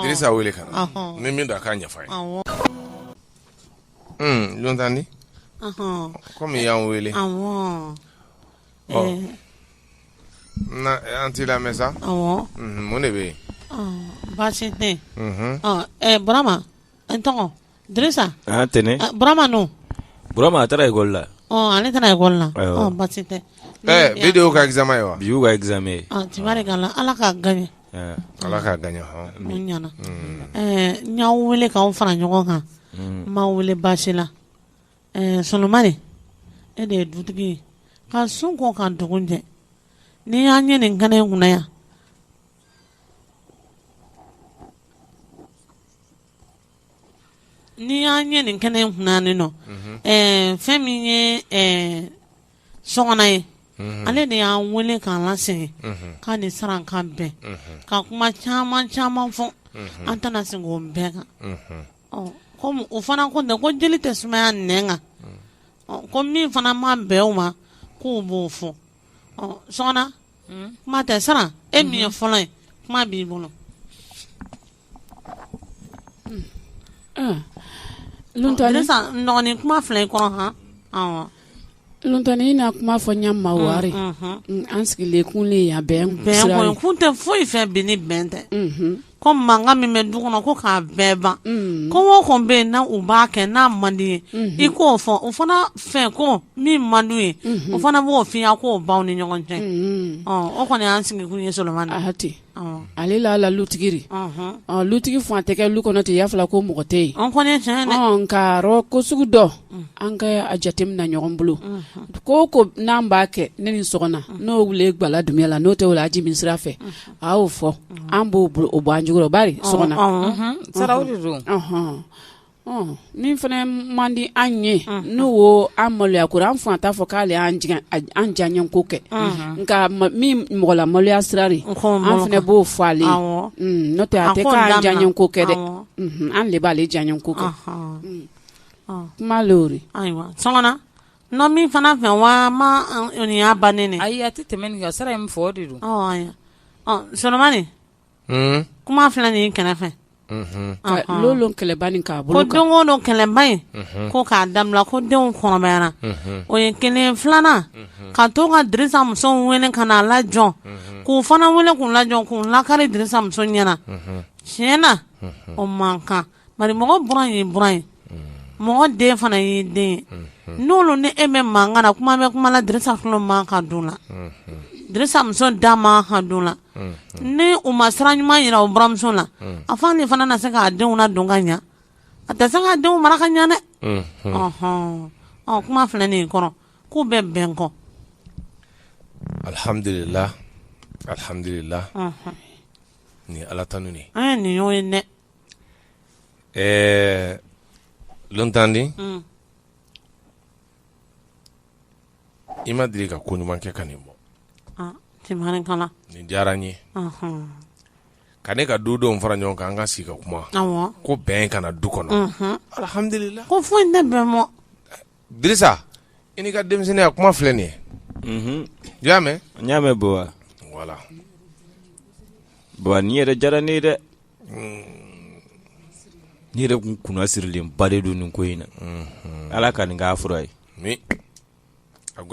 nasa wele ka na ni min don a k'a yafa ye tan di kɔmi y'an wele An t'a lamɛn sa mun de bɛ yen baasi tɛ burama n tɔgɔ tɛnɛnurama a taara ikɔli la ale taara ikɔli la baasi tɛ bi kama ye wa bi kami ye ala ka ga ala ka ga ɲana n y'aw weele k'aw fara ɲɔgɔn kan n m'aw weele baasi la Ɛɛ solomani e de ye dutigi ye ka su ko ka dugu jɛ n'i y'an ye nin kɛnɛ in kunna yan n'i y'an ye nin kɛnɛ in kun ne nɔfɛ min ye sogona ye ale de y'an weele k'an lasigi k'an ni saran ka bɛn ka kuma caman caman fɔ an tɛna segin o bɛɛ kan o fana ko ko jeli tɛ sumaya nɛn kan ko min fana ma bɛn u ma k'u b'o fɔ so hmm? kuma tɛ saran e min ye hmm. fɔlɔ ye kuma b'i bolo hmm. dɔgɔnin kuma fila i kɔrɔ hɔn Lontani i na kuma fɔ ɲa ma bari an sigilen kun le yan bi kun tɛ foyi fɛ bi ni bɛn tɛ ko mankan min bɛ du kɔnɔ ko k'a bɛɛ ban mm. ko o ko bɛ yen n'u b'a kɛ n'a man d'i ye mm-hmm. i k'o fɔ o fana fɛ ko min man di ye mm-hmm. o fana b'o fɔ i ye k'o ban ɲɔgɔn cɛ mm-hmm. o kɔni y'an sigi kun ye solomani na hati ale la la lutigiri lutigi fɛn tɛ kɛ lu kɔnɔ tɛ yafala ko mɔgɔ tɛ yen an kɔni tiɲɛ dɛ nka rɔ ko sugu dɔ mm. an ka a jateminɛ ɲɔgɔn bolo ko ko n'an b'a kɛ ne ni sogona n'o wuli gba la dunya la n'o tɛ o la a ji min sira fɛ a k'o fɔ an b'o bɔ an jogo rɔ bari so sara de don min fana man di an ye n'o ko an maloya ko an fana t'a fɔ k'ale y'an diyanye ko kɛ nka min mɔgɔ lamaloya sira de an fana b'o fɔ ale n'o tɛ a tɛ k'an diyanye ko kɛ dɛ an de b'ale diyanye ko kɛ kuma ayiwa N min fana fɛ wa ma y'a ban ne ayi a tɛ tɛmɛ nin ka sira in fɔ de don Solomani kuma filɛ nin kɛnɛ fɛ don kɛlɛba in k'a bolo don don kɛlɛba in ko k'a dabila ko denw kɔrɔbayara o ye kelen filanan ka to ka Dirisa muso wele ka na a lajɔ k'u fana wele k'u lajɔ k'u lakari Dirisa muso ɲɛna tiɲɛ na o man kan Bari mɔgɔ bɔra ye b ye mɔgɔ den fana ye den ye n'olu ni e bɛ mankan na kuma bɛ kuma na Dirisa fana man kan don na Dirisa da man kan don na ni u ma sira ɲuman jira buranmuso na a fa de fana na se k'a denw na don ka ɲɛ a tɛ se ka denw mara ka ɲɛ dɛɔn ɔ kuma filɛ nin kɔrɔ k'u bɛ bɛn kɔ alihamdula alihamdula ni ala tan nin ye nin ye dɛ Ɛɛ Luntandi i ma deli ka ko ɲuman kɛ ka nin bɔ nin diyara n ye ka ne ka du denw fara ɲɔgɔn kan an ka sigi ka kuma ko bɛn ka na du kɔnɔ alihamdulila ko foyi ne bɛ Dirisa i n'i ka denmisɛnninya a kuma filɛ nin ye unhun i y'a mɛ n y'a mɛ Buwa voilà Buwa nin yɛrɛ diyara ne ye dɛ uun n yɛrɛ tun kunnasirilenba de don nin ko in na unhun Ala ka nin k'a fura ye amiina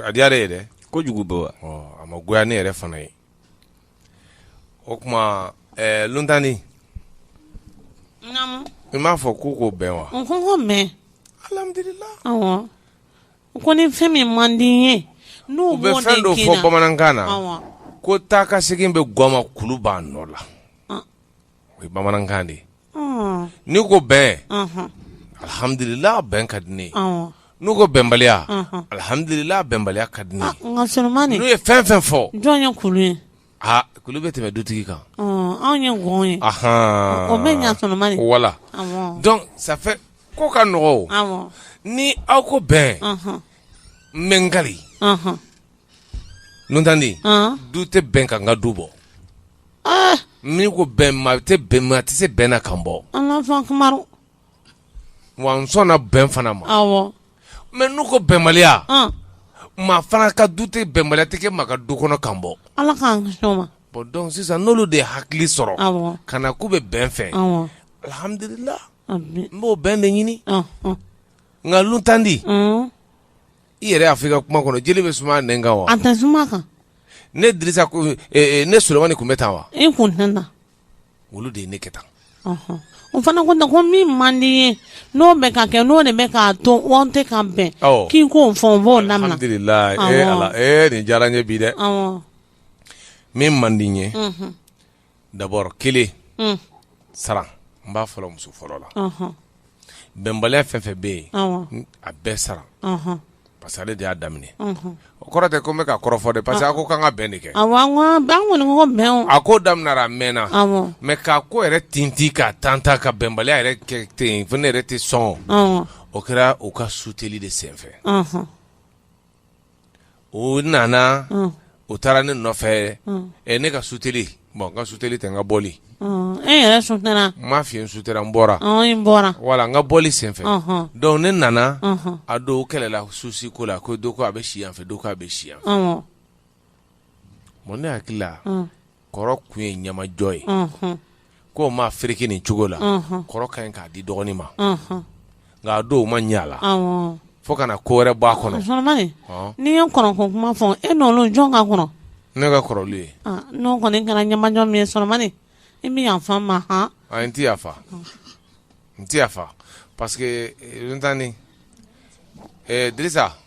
a diyar'e ye dɛ kojugu Buwa ɔɔ a ma goya ne yɛrɛ fana ye o tuma ɛɛ Luntandi. Naamu. I m'a fɔ k'u ko bɛn wa. N ko n k'o mɛn. Alihamiduliyi. Awɔ. N ko ni fɛn min man di n ye. N'o b'o de kɛ na. U bɛ fɛn dɔ fɔ bamanankan na. Awɔ. Ko taa ka segin bɛ gɔn ma kulu b'a nɔ la. o ye bamanankan de ye n'u ko bɛn alihamdulila bɛn ka di ne ye n'u ko bɛnbaliya alihamdulila bɛnbaliya ka di ne ye n'u ye fɛn o fɛn fɔ jɔn ye kulu ye aa kulu bɛ tɛmɛ dutigi kan anw ye gɔn ye o bɛ ɲa Solomani voilà donc ça fait ko ka nɔgɔ o ni aw ko bɛn n bɛ n kari Luntandi du tɛ bɛn ka n ka du bɔ min ko bɛn maa tɛ bɛn maa tɛ se bɛn na ka n bɔ wa n sɔn bɛn fana ma mɛ n'u ko bɛnbaliya maa fana ka du tɛ bɛnbaliya tɛ kɛ maa ka du kɔnɔ ka n bɔ bɔn sisan n'olu de ye hakili sɔrɔ ka na k'u bɛ bɛn fɛ alihamdulila n b'o bɛn de ɲinina Luntandi i yɛrɛ y'a fɔ i ka kuma kɔnɔ jeli bɛ suma nɛn kan wa a tɛ suma a kan ne dirisa ko eh, eh, ne solomani tun bɛ tan wa i kun tɛ na olu de ye ne kɛ tan Ɔhɔn. o fana ko ten ko min man di i ye n'o bɛ ka kɛ n'o de bɛ k'a to aw tɛ ka bɛn Awɔ. k'i k'o fɔ n b'o lamɛn alhamdulilayi ee Awɔ. ala ee nin diyara n ye bi dɛ awɔ min man di n ye unhun, d'abord kelen saran n b'a fɔlɔ muso fɔlɔ la bɛnbaliya fɛn o fɛn bɛ yen a bɛɛ saran parce que ale de y'a daminɛ o kɔrɔ tɛ ko n bɛ ka kɔrɔfɔ de parce que a ko k'an ka bɛn de kɛ a ko daminɛra a mɛnna mais k'a ko yɛrɛ t tɛ ka tan ta ka bɛnbaliya yɛrɛ kɛ ten fo ne yɛrɛ tɛ sɔn o kɛra u ka suteli de senfɛ o nana u taara ne nɔfɛ ɛ ne ka suteli bɔn ka suteli tɛ n ka bɔ ma fi su n bɔra wala n ka bɔli senfɛ donc ne nana a dɔn u kɛlɛla su si ko la ko dɔ ko a bɛ si a fɛ dɔ ko a bɛ si yan ne hakili kɔrɔ kun ye ɲamajɔ ye ko maa fke nin cogo la kɔrɔ ka ɲi k'a di dɔgɔnin ma nka dɔw ma ɲɛ la fo kana na ko wɛrɛ b'a kɔnɔ n'i ye kɔrɔ ko kuma fɔ e n'olu jɔn ka kɔrɔ ne ka kɔrɔ olu ye n kɔni kana ɲamajɔ min ye i bɛ yafa a ma h n tɛ yafa n tɛ yafa parce que n tan ni disa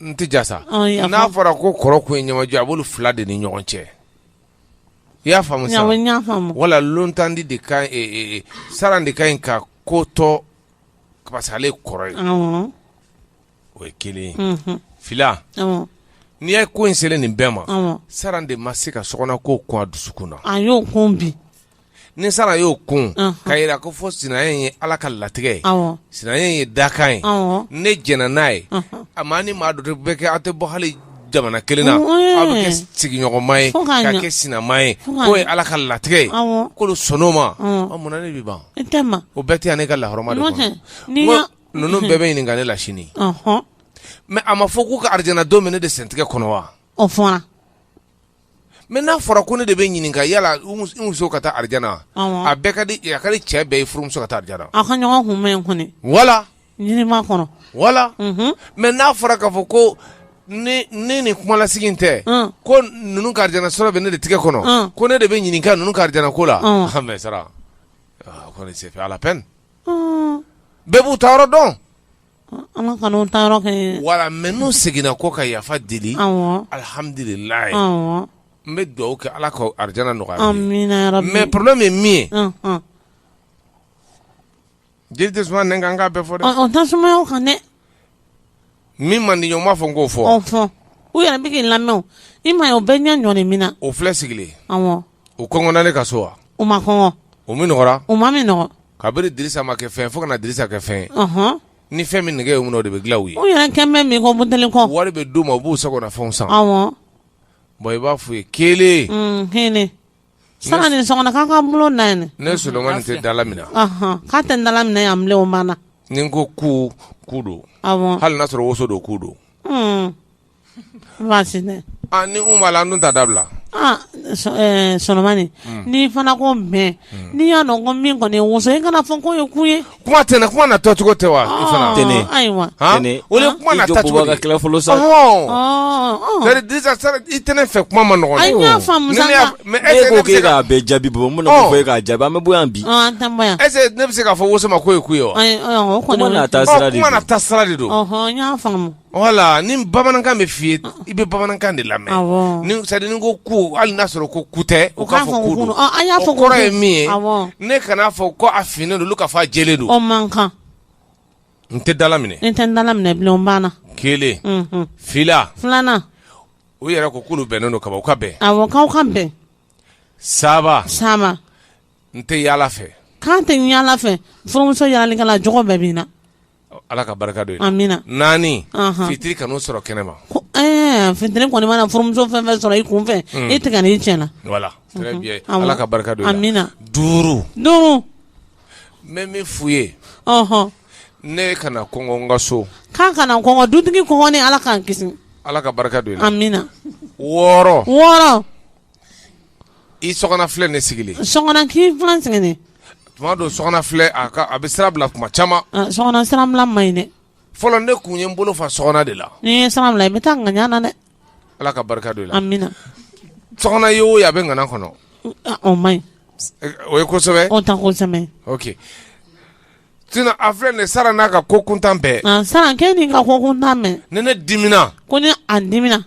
n tɛ ja sa Ɔn, n y'a n'a faamu. fɔra ko kɔrɔ kun ye ɲamajɔ ye, a b'olu fila de ni ɲɔgɔn cɛ i y'a faamu sa Awɔ, n y'a faamu. wala lontandi de ka ɲi e, e, saran de ka ɲi ka ko to parce que ale ye kɔrɔ ye Awɔ. o ye kelen ye Mhm. fila Awɔ. n'i ye ko in selen nin bɛɛ ma Awɔ. saran de ma se ka sokɔnɔ ko kun a dusukun na A y'o kun bi. ni saran y'o kun k'a jira ko fɔ sin ye ala ka latigɛ ye sin ye dakan ye ne j n'a ye a ma ni maa duuru bɛ kɛ aw tɛ bɔ hali jamana kelen na aw bɛ kɛ sigiɲɔgɔnma ye ka kɛ sinama ye k'o ye ala ka latigɛ ye kolo sow ma munna ne bɛ ban o bɛɛ tɛ ne ka lahɔrɔma ninnu bɛɛ bɛ ɲininka ne la sini mais a ma fɔ k'u ka alijana bɛ ne de sentigɛ kɔnɔ wa mais n'a fɔra ko ne de bɛ ɲininka yala i muso ka taa alijana a ka di cɛ bɛɛ ye furumuso ka taa alijana a ka ɲɔgɔn kunbɛn kɔni wala ɲinima kɔnɔ wala mais n'a fɔra k'a fɔ ko ne ni kumalasigi in tɛ ko ninnu ka alijana sɔrɔ bɛ ne de tigɛ kɔnɔ ko ne de bɛ ɲininka ninnu ka alijana ko la mais saran kɔni senfɛ ala pɛn bɛɛ b'u ta yɔrɔ dɔn wala mɛ n'u seginna ko ka yafa deli alihamdulila n bɛ dugawu kɛ ala ka arijinɛ nɔgɔya mɛ problème ye min ye jeli tɛ n ka ka bɛɛ fɔ dɛ min man di ɲɔgɔn b'a fɔ n k'o fɔ u yɛrɛ bɛ lamɛn i ma o bɛɛ ɲɛ ɲɔgɔn min na o filɛ sigilen u kɔngɔna ne ka so wa? U ma kɔngɔ. U minɔgɔra? U ma minɔgɔ. Kabini Dirisa ma kɛ fɛn ye fo ka na Dirisa kɛ fɛn ye. Ɔnhɔn! Ni fɛn min nege y'u minɛ o de bɛ dilan u ye. U yɛrɛ kɛn bɛ min kɔ buteli kɔ. Wari bɛ d'u ma u b'u sago na fɛnw san. Awɔ! Bon i b'a f'u ye kelen. Un kelen. Sanga ni sɔgɔma k'aw ka bolo na yen. Ne Solomani tɛ dalaminɛ. Ɔnhɔn! K'a tɛ dalaminɛ yan bilen o banna. Ni n ko ku, ku don. Awɔ! Hali n'a sɔrɔ woso don ku don. Un! Ni b'a la n ta dabila Solomani ni fana ko mɛ n'i y'a dɔn ko min kɔni woso in kana fɔ k'o ye ku ye kuma tɛ ne kuma na tɔcogo tɛ wa ayiwa i tɛ ne fɛ kuma ma nɔgɔ ayiwa mɛ e k'a bɛ jaabi bɔ minnu fɔ e k'a jaabi an bɛ bɔ yan bi ɛ ne bɛ se k'a fɔ woso ma k'o ye ku ye wa sira de don Wala ni bamanankan bɛ f'i ye i bɛ bamanankan de lamɛn ko ko hali n'a sɔrɔ ko ku tɛ o k'a fɔ kɔrɔ ye min ye ne kana a fɔ ko a finnen don k'a fɔ a jɛlen don man kan n tɛ dalaminɛ n tɛ dalaminɛ kelen filanan u yɛrɛ k'olu bɛnnen don k'a ka bɛn ka bɛn saba saba n tɛ yaala fɛ k'a tɛ yaala fɛ furumuso yaalalikɛla jogo bɛɛ b'i na ala ka barika don amina naani fitiri kan'u sɔrɔ kɛnɛ ma eh, fitiri kɔni mana furumuso fɛn fɛn sɔrɔ i kun fɛ hmm. i tigɛ n'i tiɲɛna wala ala ka barika don amina duuru duuru N bɛ min f'u ye, ɔnhɔn, ne kana kɔngɔ n ka so, k'a kana kɔngɔ dutigi kɔngɔlen Ala k'an kisi, Ala ka barika don i la, amina, wɔɔrɔ, wɔɔrɔ, i Sokona filɛ nin sigilen, Sokona k'i filɛ nin sigilen, tuma dɔw Sokona filɛ a ka a bɛ sira bila tuma caman, ɔ Sokona sira bila man ɲi dɛ, fɔlɔ ne tun ye n bolo fa Sokona de la, n'i ye sira bila i bɛ taa ŋaɲa na dɛ Ala ka barika don i la ye o a bɛ ŋaɲa kɔnɔ o ye sɛbɛ a filɛ nin sara n'a ka ko kuntan bɛɛ ka ko kuntan mɛ ni ne dimina kɔni a dimina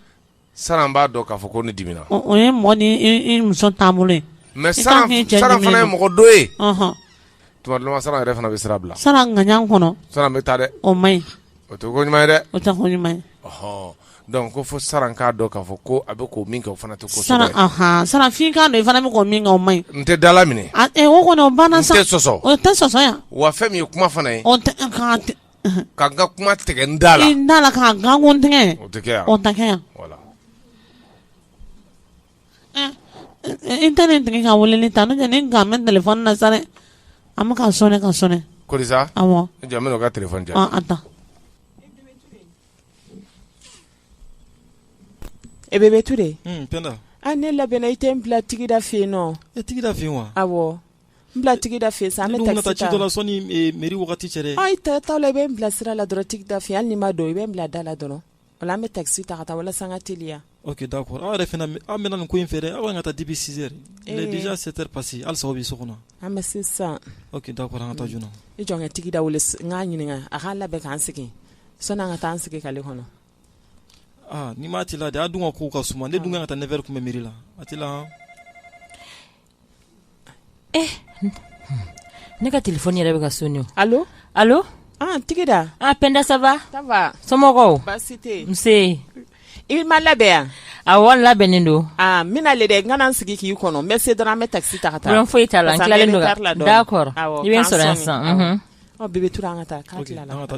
sara b'a dɔn k'a fɔ ko ne dimina o ye mɔn muso tan bolo ye mɛ sara fana ye mɔgɔ don ye tuma sara yɛrɛ fana bɛ sira bila sara ŋaɲa kɔnɔ sara bɛ taa dɛ o man ɲi O tɛ ko ɲuman ye dɛ, o tɛ ko ɲuman ye, ɔhɔ, donc ko fo saran k'a dɔn k'a fɔ ko a bɛ ko min kɛ o fana tɛ ko sugu dɔ ye, saran anhan, saran f'i k'a dɔn i fana bɛ ko min kɛ o man ɲi, n tɛ dalaminɛ, a e o kɔni o banna sa, n tɛ sɔsɔ, o tɛ sɔsɔ yan, wa fɛn min ye kuma fana ye, o tɛ ɛ ka tɛ ɛ ka n ka kuma tigɛ n da la, i da la ka nkalon tigɛ, o tɛ kɛ yan, o tɛ kɛ yan, voilà i tɛ ne tigi ka wele ta ne ne nka bɛ téléphone na sa dɛ a bɛ ka sonner ka sonner ko ka tile ta e Bebe Ture an ne labɛnna i tɛ n bila tigida fɛ yen nɔ e tigida fɛ wa aw n bila tigida fɛ sa an bɛ taa ci dɔ sani mairie wagati cɛ dɛ i taa la i bɛ n bila sira la dɔrɔn tigida fɛ hali n'i ma don i bɛ n bila da la dɔrɔn Wala an bɛ taxi ta ka taa walasa an ka teliya. Ok d'accord aw yɛrɛ fana aw mɛnna nin ko in fɛ dɛ aw ka kan ka taa depuis 6 heures il est déjà 7 heures passées halisa aw bɛ so kɔnɔ. An bɛ se sisan. Ok d'accord an ka taa joona. I jɔ n ka Tigida wele n k'a ɲininka a k'a labɛn k'an sigi sani an ka taa an sigi k'ale kɔnɔ. Aa n'i m'a teliya dɛ a dun ka kow ka suma ne dun ka kan ka taa 9 heures kunbɛn mairie la a teliya han. Eh ne ka téléphone yɛrɛ bɛ ka sonner Tigida an Penda ça va somɔgɔw i ma labɛn yan a wa labɛnnen don n bɛna le dɛ n ka sigi k'i kɔnɔ n bɛ se dɔrɔn an bɛ taxi ta ka taa foyi t'a la tilalen don da kɔrɔ i bɛ sɔrɔ yan san bɛ an ka taa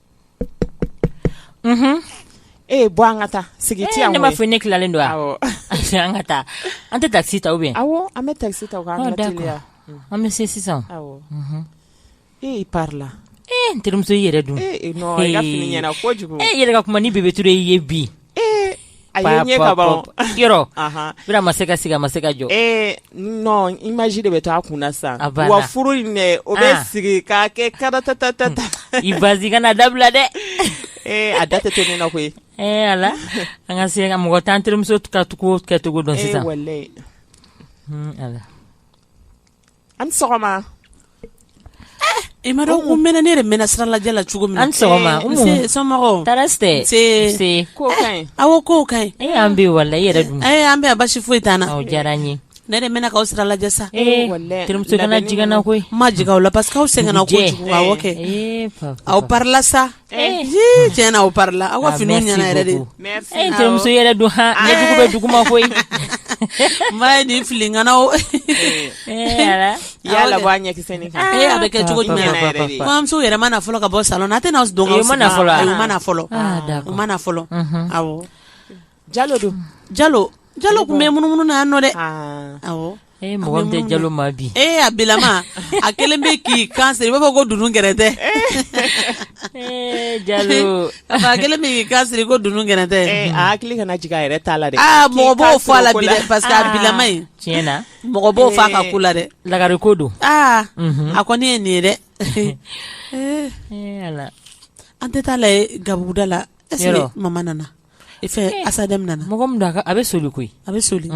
E bɔ an ka taa sigi tɛ ne m'a fɔ ne tilalen don an ka taa an tɛ taxi ta bɛ an bɛ taxi ta an bɛ se sisan e la e terimuso yɛrɛ dun e yɛrɛ ka kuma ni Bebe Ture ye bi A ma se ka sigi a ma se ka jɔ i maji de bɛ taa a kun sa wa furu o bɛ ah. sigi ka kɛ karatata ta ta ta i ba kana dabila dɛ ee a da tɛ to ne na koyi ee ala an ka se ka mɔgɔ tan terimuso ka tugu kɛcogo dɔn sisan an sɔgɔma i ma ko mɛn ne de mɛnna sira lajɛ la cogo min an sɔgɔma aw ko ka e an bɛ wala i yɛrɛ dun an bɛ basi foyi t'an na diyara n ye ne de mɛnna k'aw sira lajɛ sa terimuso jiginna koyi ma jigin aw la parce que aw sɛgɛnna ko kɛ aw parila sa Eh. Tiɲɛ aw parila aw ka fini ɲɛna yɛrɛ de denmuso eh, yɛrɛ don h ah. dugu bɛ dugu ma koyi ma ye nin filikan o eh, y'a labɔ a ɲɛkisɛ nin kan a bɛ kɛ cogo jumɛn muso yɛrɛ ma fɔlɔ ka bɔ sa a tɛna dɔn ma fɔlɔ ma fɔlɔ ma fɔlɔ jalo don jalo jalo tun bɛ munumunu na yan nɔ dɛ awɔ ee mɔgɔ min tɛ jalo ma bi ee a bilama a kɛlen bɛ k'i kan siri i b'a fɔ ko dunun gɛrɛntɛ ee jalo a kɛlen bɛ k'i kan siri ko dunun gɛrɛntɛ ee a hakili kana jigin a yɛrɛ t'a la dɛ aa mɔgɔ b'o fɔ a la bi dɛ parce que a bilama in tiɲɛ na mɔgɔ b'o fɔ a ka ko la dɛ lagare ko don aa a kɔni ye nin ye dɛ ee ala an tɛ taa lajɛ gabuguda la est ce que mama nana i fɛ eh, asa daminɛ na mɔgɔ min da a bɛ soli koyi a bɛ soli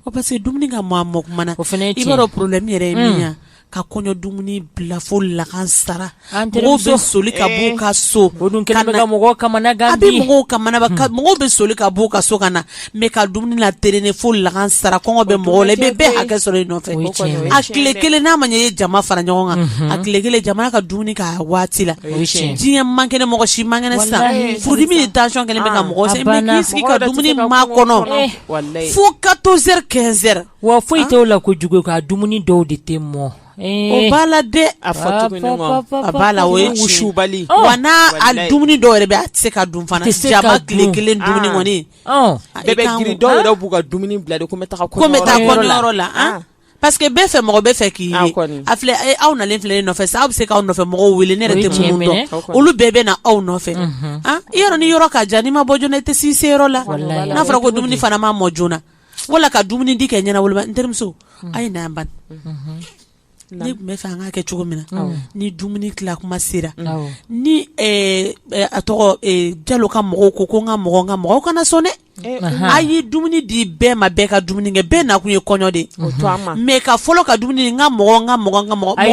o parce que dumuni ka mɔ a mɔ tuma na o fana i b'a dɔn problème yɛrɛ ye min ye mm. ka kɔɲɔ dumuni bila fo lagansara mɔgɔw bɛ soli ka b'u eh. ka so o dun kɛlen bɛ ka mɔgɔw kamana gan bi a bɛ mɔgɔw kamana gan hmm. mɔgɔw bɛ soli ka b'u ka so ka na mais ka dumuni laterene fo lagansara kɔngɔ bɛ mɔgɔw la i bɛ bɛɛ hakɛ sɔrɔ i nɔfɛ a tile kelen n'a ma ɲɛ i ye jama fara ɲɔgɔn kan a tile kelen jama ka dumuni k'a waati la diɲɛ man kɛnɛ mɔgɔ si man kɛnɛ sa furudimi ni tension kɛlen bɛ ka mɔgɔ sa i bɛ k'i sigi ka dumuni makɔnɔ fo 14 heures 15 heures wa foyi t'o la ko jugu ka dumuni dɔw de tɛ mɔ o b'a la dɛ a a b'a la o ye wusubali wa n'a a dumuni dɔw yɛrɛ bɛ a tɛ se ka dun fana jaba tile kelen dumuni kɔni bɛɛ bɛ girin dɔw yɛrɛ b'u ka dumuni bila de ko n bɛ taa kɔɲɔyɔrɔ la ko n bɛ taa kɔɲɔyɔrɔ la parce que bɛɛ fɛ mɔgɔ bɛ fɛ k'i ye a filɛ aw na filɛ nɔfɛ sa aw bɛ se k' nɔfɛ mɔgɔw wele ne yɛrɛ tɛ olu bɛɛ bɛ na aw nɔfɛ i yɔrɔ ni yɔrɔ ka jan n'i ma bɔ joona i tɛ si se yɔrɔ la n'a fɔra ko dumuni fana ma mɔ joona wala ka dumuni di kɛ ɲɛna n terimuso a ye sabali ne tun bɛ fɛ an ka kɛ cogo min na ni dumuni tila tuma sera ni a tɔgɔ jalo ka mɔgɔw ko ko n ka mɔgɔ ka mɔgɔw kana sɔn dɛ a ye dumuni di bɛɛ ma bɛɛ ka dumuni kɛ bɛɛ nakun ye kɔɲɔ de mais ka fɔlɔ ka dumuni ka mɔgɔ ka mɔgɔ ka mɔgɔ bɛ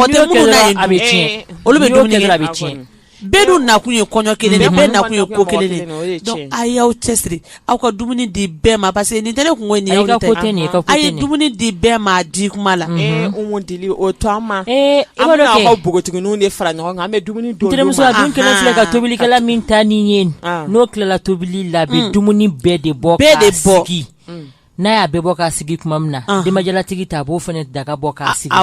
olu bɛ dumuni bɛ tiɲɛ bɛɛ dun nakun ye kɔɲɔ kelen bɛɛ nakun ye ko kelen a y'aw cɛ siri aw ka dumuni di bɛɛ ma parce que nin tɛ ne kun ye dumuni di bɛɛ ma a di tuma la o to an ma ee an bɛ aw ka npogotigininw de fara ɲɔgɔn kan an bɛ dumuni donmuso dun kelen filɛ ka tobilikɛla min ta ni ye n'o tilala tobili la bɛ dumuni bɛɛ de bɔ bɛɛ de bɔ n'a y'a bɛ bɔ k'a sigi tuma min na denbajalatigi ta a b'o fana daga bɔ k'a sigi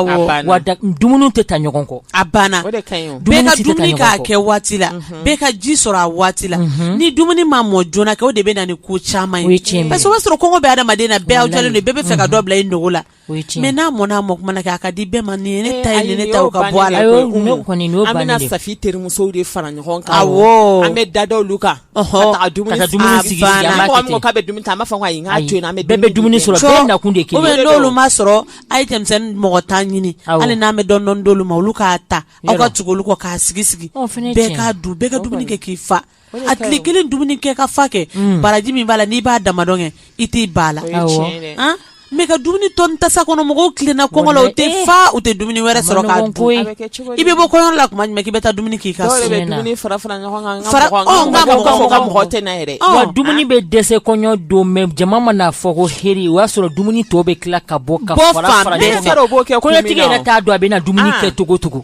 wa dumuni tɛ ta ɲɔgɔn kɔ a banna bɛɛ ka dumuni k'a kɛ waati la mhm. bɛɛ ka ji sɔrɔ a waati la mhm. ni dumuni ma mɔ joona kɛ o de bɛ na ni ko caman ye parce que o b'a sɔrɔ kɔngɔ bɛ adamaden na bɛɛ aw jɔlen don bɛɛ bɛ fɛ ka dɔ bila i nugu la mais n'a mɔna a mɔ tuma na kɛ a ka di bɛɛ ma nin ne ta ne ta ka bɔ a la an bɛna asa terimuso de fara ɲɔgɔn kan an bɛ da kan bɛ dumuni b'a sɔrɔ nakun de n'olu ma sɔrɔ a ye denmisɛnnin mɔgɔ tan ɲini hali n'an bɛ dɔɔnin d'olu ma olu k'a ta aw ka tugu olu kɔ k'a sigi sigi bɛɛ ka du bɛɛ ka dumuni kɛ k'i fa a tile kelen dumuni kɛ ka fa kɛ baraji min b'a la n'i b'a dama dɔn kɛ i t'i ba la ne ka dumuni tɔ tasa kɔnɔ mɔgɔw tilenna kɔ la u tɛ fa u tɛ dumuni wɛrɛ sɔrɔ i bɛ bɔ kɔɲɔ la tuma k'i bɛ taa dumuni k'i ka fara dumuni bɛ dɛsɛ kɔɲɔ don mɛ jama man'a fɔ ko heri o y'a sɔrɔ dumuni tɔ bɛ tila ka bɔ ka kɛ kɔɲɔtigi yɛrɛ t'a dɔn a bɛ na dumuni kɛ cogocogo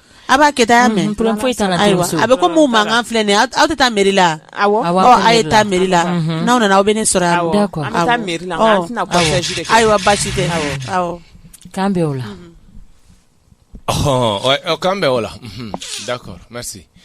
A b'a kɛ taa mɛn ayiwa a bɛ ko mankan filɛ nin aw tɛ taa mɛri la a ye taa mɛri la n'aw nana aw bɛ ne sɔrɔ ayiwa basi tɛ k'an bɛ o la ɔ k'an bɛ o la da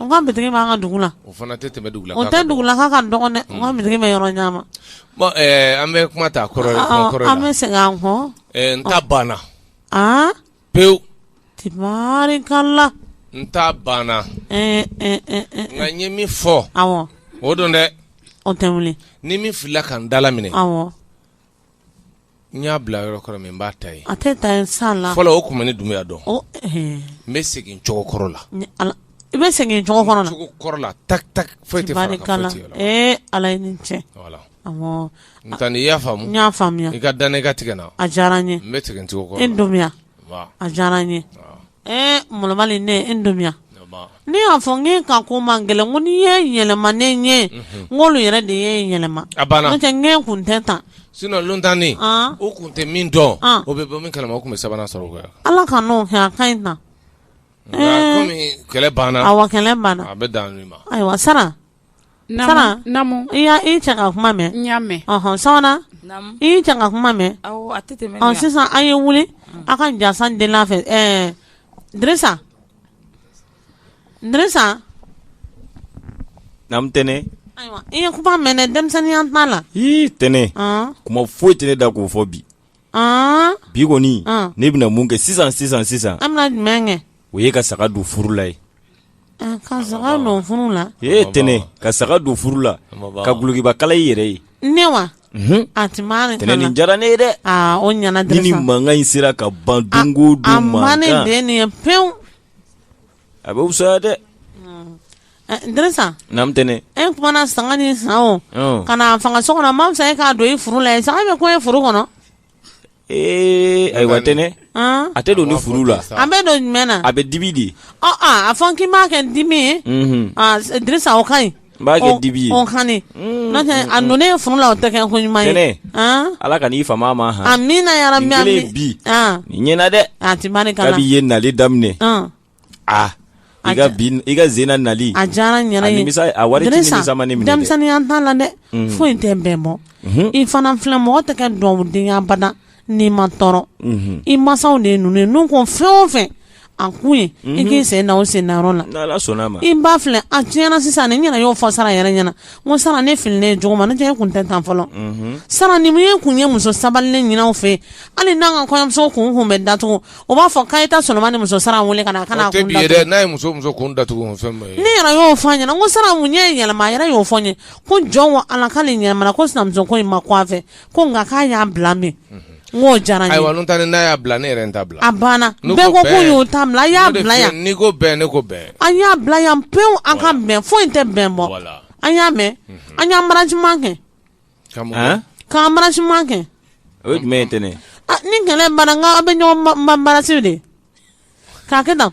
N ka bitigi b'an ka dugu la o fana tɛ tɛmɛ dugu la o tɛ dugulaka ka dɔgɔn dɛ n ka bitigi bɛ yɔrɔ ɲɛ ma an bɛ kuma ta kɔrɔ an bɛ segin an kɔ n ta banna pewu tarikala n ta banna nka n ye min fɔ o don dɛ o tɛ wuli ni min filila ka n dalaminɛ n y'a bila yɔrɔ kɔrɔ min n b'a ta ye a tɛ ta san la fɔlɔ o tun ne dunya dɔn n bɛ segin cogo kɔrɔ la i bɛ segin cogo kɔrɔ la ta foyi tɛ ala cɛ nka n' i y'a faamu y'a faamuya i ka dan ne ka tigɛ na a diyara n ye n bɛ segin cogo e don a diyara n ye Ɛɛ malobali nin ne e dɔnya ne y'a fɔ n ka ko man gɛlɛn ko n'i ye yɛlɛma ne ɲɛ n olu yɛrɛ de ye yɛlɛma n kun tɛ tan suntannen o kun tɛ min dɔn o bɛ bɔ min kala tun bɛ sabanan sɔrɔ ala ka n'o kɛ ka ɲi tan kɛlɛ banna a kɛlɛ banna a bɛ dan ma ayiwa sara kuma mɛn kuma mɛn sisan an ye wuli an ka jansan den fɛ tɛnɛ i ye kuma mɛn denmisɛnninya la tɛnɛ kuma foyi tɛ ne da k'o fɔ bi bi kɔni ne bɛna mun kɛ sisan sisan sisan o ye ka saga don furu la ye ka saga don furu la ee tɛnɛ ka saga don furu la ka gulokibakala i yɛrɛ ye ne wa a tɛnɛ nin diyara ne ye dɛ o ɲana ni mankan in sera ka ban don o don mankan a ma ne bɛn nin ye pewu a bɛ fisaya dɛ. Ɛ Dirisa. Naamu n tɛnɛ. E kumana saga nin san o. Ɔn! Ka n'a faga so kɔnɔ a man fisa e k'a don i furu la yen saga bɛ kun i furu kɔnɔ. Ee ayiwa tɛnɛ. An! A tɛ don ni furu la. A bɛ don jumɛn na? A bɛ dibi de. Ɔ aa a fɔ n k'i m'a kɛ ni dibi ye. Unhun! Aa Dirisa o ka ɲi. n b'a kɛ dibi ye on hane mm, n'o tɛ mm, a mm. nɔnɛ ye furu la o tɛ kɛ ko ɲuman ye ala ka n'i fama ma han amina ya rabbi amin bi nin ɲɛna dɛ a ti bani kana kabi ye nali daminɛ a i ka bi i ka zena nali a diyara n yɛrɛ ye nimisa a wari ti nimisa ma ne minɛ dɛ denmisɛnninya t'a la dɛ foyi tɛ bɛn bɔ mhm. i fana filɛ mɔgɔ tɛ kɛ dɔnkiliden ye abada n'i ma tɔɔrɔ i mansaw de ninnu n ko fɛn o fɛ a kun ye i k'i sen o sen na i ba filɛ a tiɲɛna sisan ni ɲɛna y'o fɔ sara yɛrɛ ɲɛna ko sara ne fini ne cogo ma ne tɛ tun tɛ tan fɔlɔ sara ni ye kun ye muso sabali ne ɲinanw fɛ hali n'an ka kɔɲɔmuso kun kun bɛ da o b'a fɔ k' ta sɔrɔ ni muso sara weele ka kana kun ne y'o fɔ ɲɛna ko sara mun y'e yɛlɛma yɛrɛ y'o fɔ ye ko jɔn ala ka nin ɲa ko sinamuso ko in ma fɛ ko nka k'a y'a bila mɛn n'o diyara ayiwa ta n'a y'a bila ne yɛrɛ ta bila a banna bɛɛ ko ko y'o ta bila y'a bila yan n'i ko bɛn ne ko bɛn an y'a bila yan pewu an ka bɛn foyi tɛ bɛn bɔ an y'a mɛn mhm. an y'embrassement kɛ k'embrassement kɛ o ye jumɛn ye tɛ ne ni kɛlɛ banna an bɛ ɲɔgɔn embrasser de k'a kɛ tan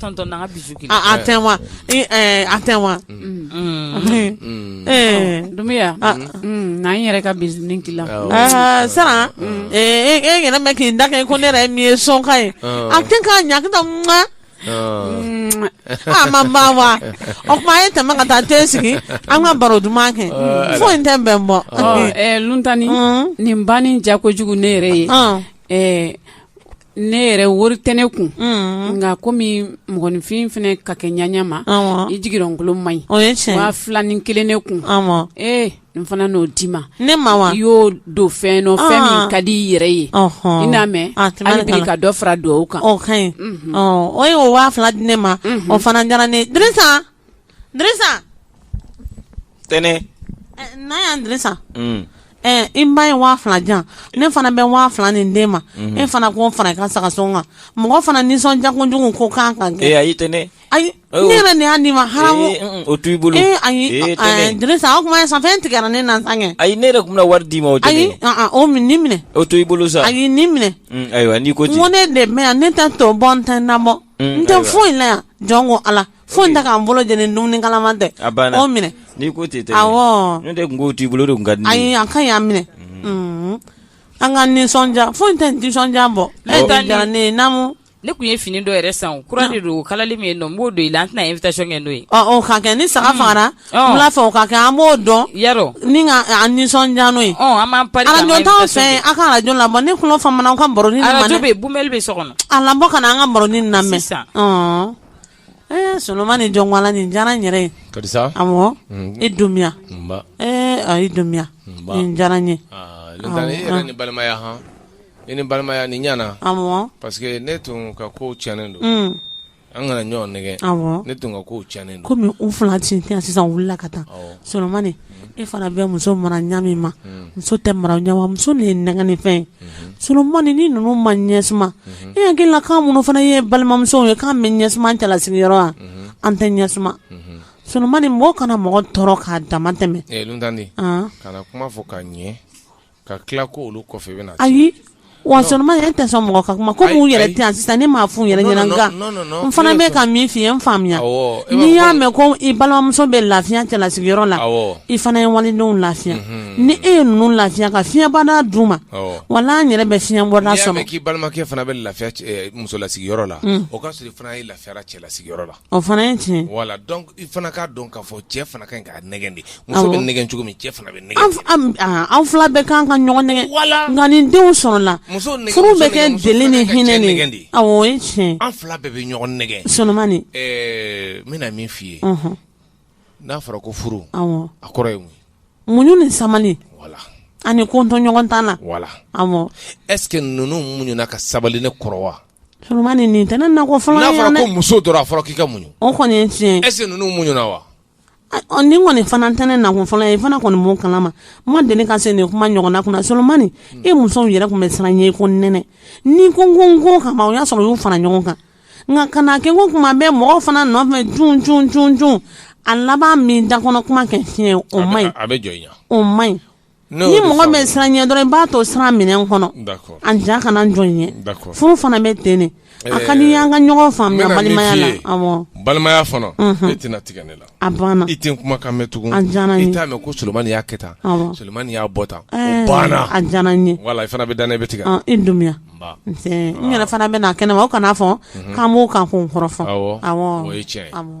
Tɔn tɛ wa an tɛ wa dunya n'an yɛrɛ ka bin la san e yɛrɛ k'i da ko ne yɛrɛ min ye sɔnka ye an tɛ k'a ɲaka ma ma wa o tuma a ye tɛmɛ ka taa te sigi an ka baro duman kɛ foyi tɛ bɛn bɔ ltanani nin banni diya kojugu ne yɛrɛ ye ne yɛrɛ wari tɛ ne kun nka komi mɔgɔninfin fana ka kɛ ɲya ma i jigikolon man ɲi waa fila ni kelen ne kun ee n fana n'o d'i ma ne ma i y'o don fɛn o fɛn min ka di i yɛrɛ ye i n'a mɛn ka dɔ fara dugawu kan ka ɲi o waa fila di ne ma o fana diyara ne Disa tɛnɛn n'a y'an disa i ba ye waa fila jan ne fana bɛ waa fila nin d'e ma e fana k'o fara i ka saga sɔngɔ kan mɔgɔ fana nisɔndiya kojugu ko kan kan tɛ ayi ne yɛrɛ nin y'a nin ma ha o to i bolo ayi o kuma san fɛn tigɛ ne na kɛ ayi ne yɛrɛ tun bɛ wari d'i ma o ayi o nin minɛ o to i bolo sa a ye nin minɛ ayiwa n' ko ne de yan ne tɛ to bɔ n tɛ na bɔ n tɛ foyi in la yan jɔn ko ala fo ta k'an bolo lajɛlen ni dumuni kalama tɛ minɛ n'i ko tɛ tun t'i bolo ka ayi an ka y'a minɛ mhm. an ka nisɔndiya foyi tɛ nisɔndiya bɔ ne namu ne tun ye fini dɔ yɛrɛ san kura de don kalali min ye n b'o don i la an tɛna invité kɛ n'o ye ɔ ka kɛ ni saga mhm. fagara n b'a fɛ o ka kɛ an b'o dɔn yarɔ ni ka an nisɔndiya n'o ye an b'an pari arajo t'anw fɛ yen a ka arajo labɔ ne tulo famana aw ka baroni lamɛn arajo bɛ yen bumɛli bɛ so kɔnɔ a labɔ ka na an ka baroni lamɛn sisan Solomani jɔnwa ni diyara yɛrɛ ye karisa e dunya a ye dunya diyara ye ni balimaya h i ni balimaya ni ɲ parce que ne tun ka ko tiɲɛ don an kana ɲɔgɔn nɛgɛn ne tun ka ko tiɲɛ kɔmi u fila sisan wulila ka taa solomani e fana bɛ muso mara ɲa min ma muso tɛ mara ɲa ma muso de ye nɛgɛnni fɛn solomani ni ninnu ma ɲɛ suma i hakili la k'an minnu fana ye balimamuso ye k'an bɛ ɲɛ suma cɛla sigiyɔrɔ wa an tɛ ɲɛ suma solomani mɔgɔ kana mɔgɔ tɔɔrɔ k'a dama tɛmɛ ka tila ko olu kɔfɛ bɛ ayi wa tɛ mɔgɔ ka kuma komi yɛrɛ tɛ sisan ne ma f yɛrɛ ɲɛna fana bɛ ka min fi n faamuya n'i y'a mɛn ko i balimamuso bɛ lafiya cɛla sigiyɔrɔ la i fana ye walidenw lafiya ni e ye ninnu lafiya ka fiɲɛbɔda d'u ma wa n'an yɛrɛ bɛ fiɲɛbɔda sɔrɔ k'i balimakɛ fana bɛ lafiya musola sigiyɔrɔ la o ka sɔrɔ fana ye lafiya cɛla sigiyɔrɔ la O fana ye tiɲɛ wala dɔn i fana k'a dɔn k'a fɔ cɛ fana ka kan ka nɛgɛn de muso bɛ nɛgɛn cogo min cɛ fana bɛ an fila bɛɛ ka kan ka ɲɔgɔn nɛgɛn wala nka ni denw sɔrɔla furu bɛ kɛ deli ni hinɛ nɛgɛ de tiɲɛ an fila bɛɛ bɛ ɲɔgɔn nɛgɛn solomani n bɛna min f'i ye n'a fɔra ko furu a kɔrɔ ye muɲu ni sabali wala ani kotoɲɔgɔntala wala est-ce que ninnu muɲu ka sabali ne kɔrɔ wa muso k'i ka mun kɔni fana tɛ ne nakɔ fɔlɔ ye fana kɔni mɔ kala ma ma deli ka se nin kuma ɲɔgɔn kunna solomani tɛnɛmusow yɛrɛ tun bɛ siran ɲɛ ko nɛnini ko ko ko kama o y'a sɔrɔ y'u fana ɲɔgɔn kan nka ka kɛ ko tuma bɛ mɔgɔw fana nɔfɛ a laban min da kɔnɔ kuma kɛ tiɲɛ o ma o ma ni mɔgɔ bɛ siran ɲɛ dɔrɔn i b'a to siran minɛn kɔnɔ an ja kana jɔn ye furu fana bɛ t ne a ka di an ka ɲɔgɔn faamuya balimaya la balimaya e tɛna tigɛ ne la a banna i tɛ kuma kan tugun an i t'a mɛn ko solomani y'a kɛ tan solomani y'a bɔ tan banna a diyara n ye wala i fana bɛ dan ne bɛ tigɛ e dunya n yɛrɛ fana bɛ na kɛnɛ ma o kana fɔ k'an b'o kan ko n kɔrɔ fɔ